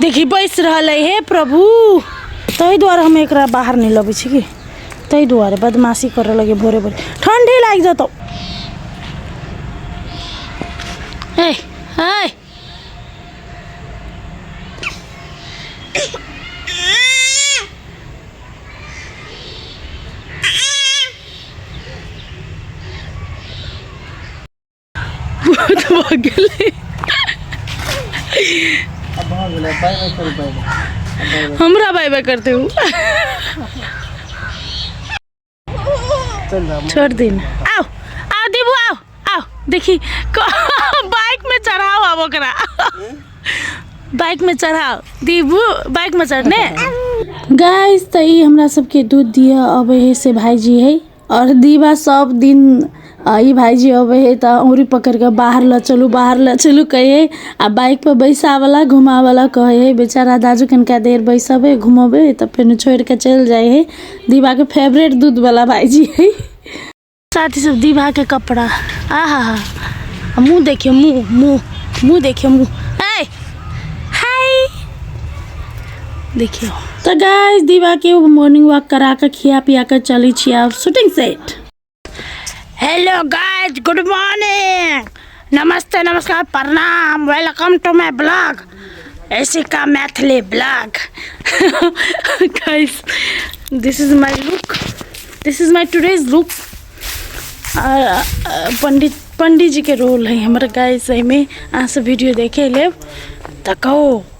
देखी बैस रहल है हे प्रभु ताहि दुआरे हम एक बाहर नहीं लबे छी कि ताहि दुआरे बदमाशी कर लगे भोरे भोरे ठंडी लाग जतौ है है बहुत भऽ गेलै अब भऽ गेलै बाय बाय करू बाय बाय हमरा बाय बाय करते हो चल जा छोड़ दिन आओ आओ देबू आओ आओ देखी बाइक में चढ़ाओ अब ओकरा बाइक में चढ़ाओ देबू बाइक में चढ़ने गाइस तऽ ई हमरा सबके दूध दिअ अबै है से भाईजी है आओर दीबा सब दिन ई भाइजी अबै है तऽ अँगुरी पकड़िके बाहर लऽ चलू बाहर लऽ चलू कहै है आ बाइक पर बैसाबैला घुमाबैला कहै है बेचारा दाजु कनिका देर बैसबै घुमबै तऽ फेनु छोड़िके चलि जाइ है दीबाके फेवरेट दूध बला भाइजी है साथी सब दीबाके कपड़ा आहा हा मुँह देखियो मुँह मुँह मुँह देखियो मुँह देखियौ तऽ गाइस दीवा के मॉर्निंग वॉक करा के खिया पिया के चली छी आब shooting set hello guys good morning नमस्ते नमस्कार प्रणाम वेलकम टू माय ब्लॉग ऐसी का Maithili blog guys this is my look this is my today's look पंडित पंडित जी के रोल है हमारे गाइस में अहाँ सब वीडियो देखे ले तो कहो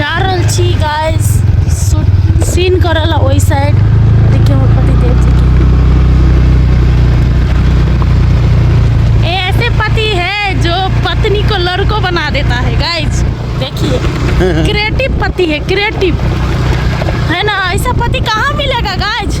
जा रहल छी गाइस सीन करऽ ला ओहि साइड देखियौ हमर पतिदेव जी के ये ऐसे पति है जो पत्नी को लड़को बना देता है गाइस देखिए क्रिएटिव पति है क्रिएटिव है ना ऐसा पति कहाँ मिलेगा गाइस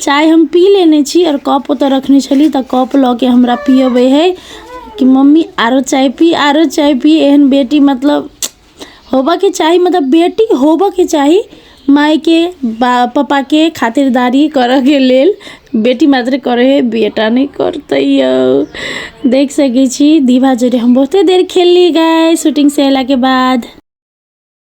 चाय हम पी लेने छी आओर कप ओतऽ रखने छली तऽ कप लऽ के हमरा पियबै है कि मम्मी आरो चाय पी आरो चाय पी एहन बेटी मतलब होबऽके चाही मतलब बेटी होबऽके चाही मायके बा पप्पाके खातिरदारी करऽके लेल बेटी मात्र करै है बेटा नहि करतै यौ देख सकै छी दीवा जरे हम बहुते देर खेलली गाय शूटिंग से अयलाके बाद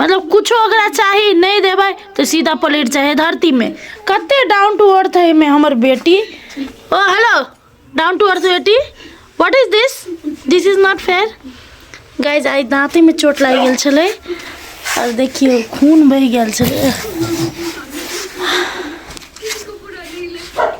मतलब कुछो ओकरा चाही नहीं देबै तो सीधा पलट जाए धरती में कते डाउन टू अर्थ है में हमर बेटी ओ हेलो डाउन टू अर्थ बेटी what is this this is not fair guys आई दाँते में चोट लागि गेल छलै और देखियो खून बह गेल छलै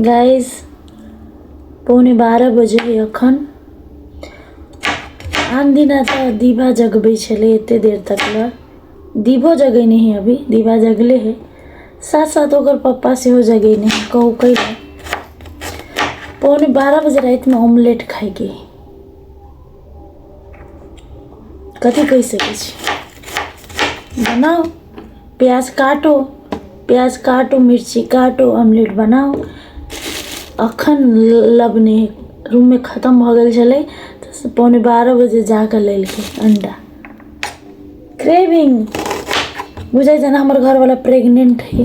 गाइस पौने बारह बजे अखन आन दिना तऽ दीवा जगबै छलै एते देर तक लए दीवो जगेने है अभी दीवा जगले है साथ साथ ओकर पप्पा सेहो जगेने है कहू कै पौने बारह बजे रातिमे ऑमलेट खाइके है कथी कहि सकै छी बनाउ प्याज काटो प्याज काटो मिर्ची काटो ऑमलेट बनाउ अखन लबने रूममे खतम भऽ गेल छलै तऽ पौने बारह बजे जाकऽ लेलकै अंडा क्रेविंग बुझै जेना हमर घरवला प्रेग्नेंट है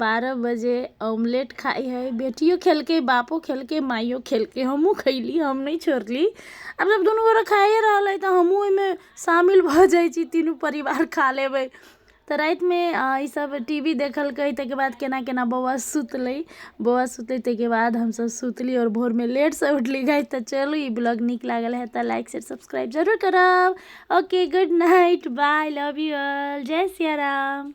बारह बजे ऑमलेट खाइ है बेटियो खेलके बापो खेलके माइयो खेलके हमहु खैली हम नहि छोड़ली आब जब दुनू गोरा खाइए रहल है तऽ हमहु ओहिमे शामिल भऽ जाइ छी तीनू परिवार खा लेबै तऽ रातिमे ई सभ टी वी देखलकै ताहिके बाद केना केना बौआ सुतलै बौआ सुतलै ताहिके बाद हम सभ सुतली आओर भोरमे लेटसँ उठली गाइज तऽ चलू ई ब्लॉग नीक लागल है तऽ लाइक शेयर सब्सक्राइब जरूर करब okay good night bye love you all जय सिया राम